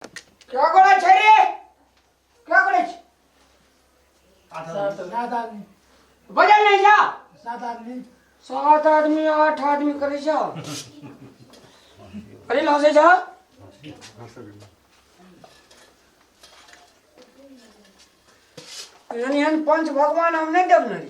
क्या करे छे रे क्या करे छे सात आदमी बजल नहीं जा सात आदमी सात आदमी आठ आदमी करे जा अरे लहसे जा यानी हम पंच भगवान हम नहीं देव नहीं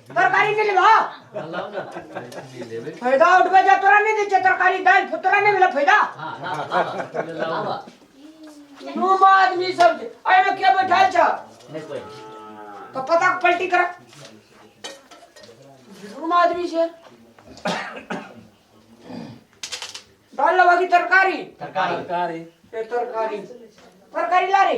तरकारी नहीं लेबा लाओ ना नहीं लेबे फायदा उठबे जा तोरा नहीं दै छै तरकारी दालि फु- तोरा नहीं भेलै फायदा हां ना ना लाओ ना दू आदमी सब छै। एहिमे के बैठल छ नहीं कोई तऽ पता पलटी कर दू आदमी छै दालि लेबा कि तरकारी तरकारी तरकारी ए तरकारी तरकारी ला रे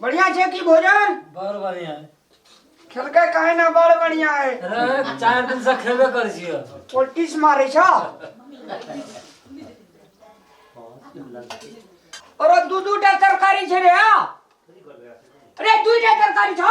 बढ़िया छे की भोजन बड़ बढ़िया है खेलके काहे ना बड़ बढ़िया है अरे चार दिन से खेबे कर छियो पोल्टिस मारे छ और दू दू टा तरकारी छे रे आ। अरे दू टा तरकारी छ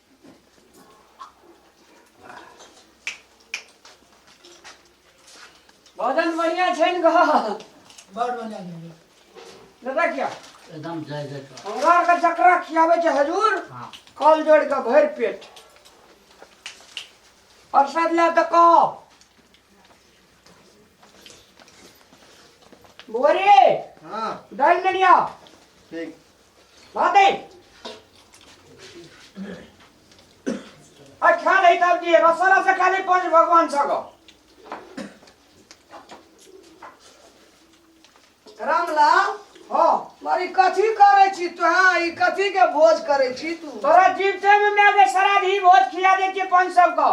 भजन बढ़िया छै ने गा बड़ बढ़िया भेलै दादा किया एकदम जय जय कर हमरा आरके जकरा खियाबै छै हजूर हाँ कल जोड़ के भरि पेट प्रसाद ला तऽ कह बोरे हाँ दालि लेलिया ठीक बात है अच्छा नहीं तब जी रसोड़ा से खाली पंच भगवान सको रामलाल हाँ मारी कथी करे छी तू हाँ ई कथी के भोज करे छी तू तोरा जीवते में मैं अगर सारा धी भोज खिला दे के पंच सबको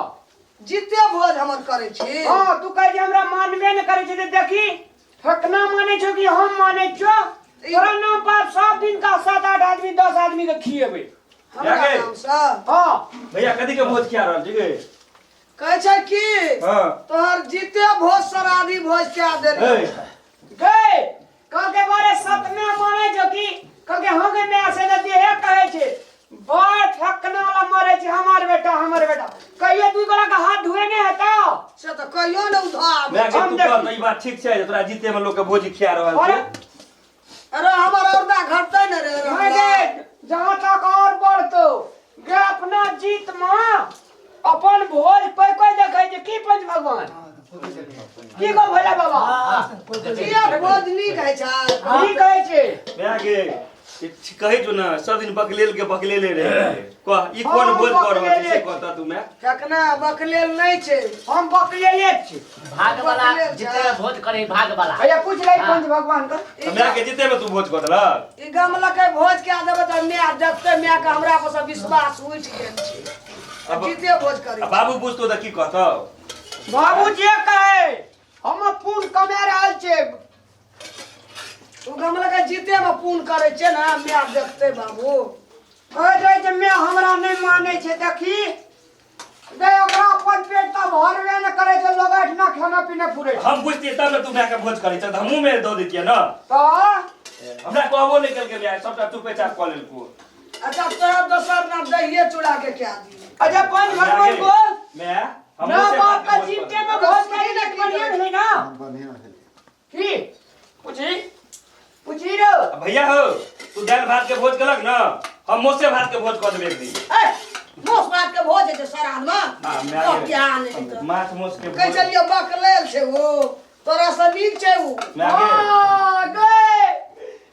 जिते भोज हमर करे छी हाँ तू कह जे हमरा मानबे न करे छै ते देखी हकना माने छौ कि हम माने छौ तोरा नाम पर सब दिन का सात आठ आदमी दस आदमी के खिएबै हमरा जाके। नाम से हाँ भैया कथी के भोज खिया रहल छी गे कहै छै कि हाँ तोहर जीते भोज सराधी भोज कए ए, देने गए कहलकै बारे सतना माने छौ कि कहलकै हम के मैं से देती है कहे छे बड़ फकना वाला मरे छै हमर बेटा हमर बेटा कहियो तू गोला के हाथ धुए ने हेता से तऽ कहियो ने उधार मैं के हम तू देख- कर ई बात ठीक छै जे तोरा जीते में लोग के भोजी खिया रहल अरे छै अरे हमर औरदा घटतै ने रे मैं रामलाल। देख जहां तक और बढ़तो गे अपना जीत में अपन भोज कोई कोई देखे जे की पंच भगवान की को भोला बाबा जिया भोज नीक है छा की कहै छै भए गेल ई छी- कहै छौ ने सब दिन बकलेल के बकलेले रहे कह ई कोन हँ, बोल कर रहल छी बकलेले। से कहता तू मैं चकना बकलेल नहीं छे हम बकलेले छी भाग वाला जिते में वोट करे भाग वाला भैया पूछ ले हाँ। पंच भगवान का तो मैं के जीते में तू वोट कर दला ई गमला के भोज के आदब त मैं जत्ते मैं के हमरा पर सब विश्वास उठ गेल छी अब- जीते भोज करी अब बाबू पूछ तो की कहतो बाबू जे कहे हम पून कमे रहल छे उ गमला के जीते में पून करे छे ना मैं जत्ते बाबू ओ जे जे मैं हमरा नहीं माने छे देखी बे ओकरा अपन पेट का भरबे न करे जे लोग अठना खाना पीना फुरे छै। हम बुझतिए तब ने तू मायके भोज करै छह तऽ हमहूँ मेरे दऽ दैतियै ने तो हमरा कहबो नहि केलकै माय सभटा तू पेचाप कऽ लेलकू अच्छा तो दोसर ना दहिए चूड़ा के क्या दी अच्छा पाँच भर बोल बोल माय ना हमहूँ से बाप का बात के भोज चिमटे कऽ में भोज करी ना बढ़िया है ना बढ़िया है की पूछी पूछी रो आ भैया हो तू दाल भात के भोज कलक ना हम मोसे भात के भोज कर देबे एक दिन ए मोस बात के भोज जे सारा आदमी हाँ, मैं तो आगे। ज्ञान है तो माछ मोस के कह भोज चलियो बकलेल छै वो तोरा से नीक छै वो मैं आगे। आ, गए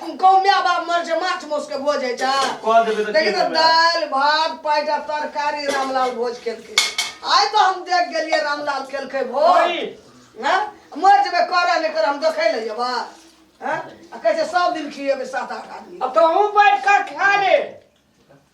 हम गाँवमे आब आब मर छै माछ मौसके भोज होइ छै कह देबै तऽ देखिन की तऽ करबै? दालि भात पाइट आ तरकारी रामलाल भोज केलकै आइ तऽ हम देख गेलियै रामलाल केलकै भोज ओइ! हैं? मर जेबै करऽ नहि करऽ हम देखै लए जेबै हैं? आ कहै छै सब दिन खिएबै सात आठ आदमी अब तो हम बैठ कर खा ले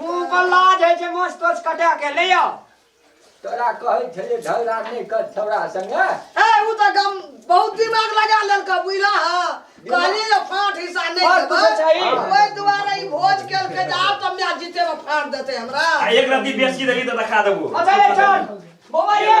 मुंह पर लाज है जे मोछ तोछ कटा के ले आओ तोरा कहै छले झगड़ा नहि कर छौड़ा संगे ए उ त गम बहुत दिमाग लगा लेलका बुझला ह कहली जे फाट हिस्सा नहि फाट देबै कुछो चाही। ओहि दुआरे ई भोज केलकै जे आब तऽ मैच जीते में फाट देतै हमरा आ एक रत्ती बेसी देली तऽ देखा देबो अच्छा ले चल बौआ ये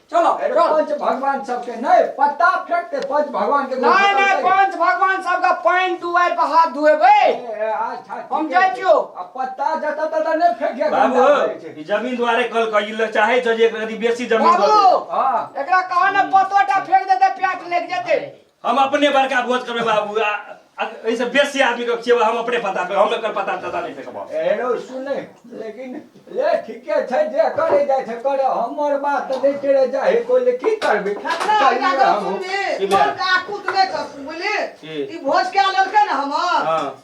चलो अरे चल। पंच भगवान सबके नहीं पत्ता फेंक के पंच भगवान के नहीं नहीं पंच भगवान सबका पानी दुआर पर हाथ धुएबै हम जाइ छियो। आ पत्ता जता तता नहीं फेंक के गंदा बाबू करे छै। ई जमीन दुआरे कल कइल चाहे छै जे एकरा यदि बेसी जमीन दऽ दे बाबू हां एकरा कहा ने पतोटा फेंक देते प्याट लग जेते हम अपने बड़का भोज करबे बाबू आ आ एहिसँ बेसी आदमीके खियेबै हम अपने पता पे हम एकर पता तता नहि फेकबौ एहनो सुनै लेकिन ले ठीके छै जे करे जाइ छै करे हमर बात तऽ नहि टेरे जा हे कोइ ले की करबै हमरा कहियै एकरा गप हमहूँ। सुनबी, की भेल? मोन के आकुत नहि करतू, बुझली? की? ई भोज कए लेलकै ने हमर हँ।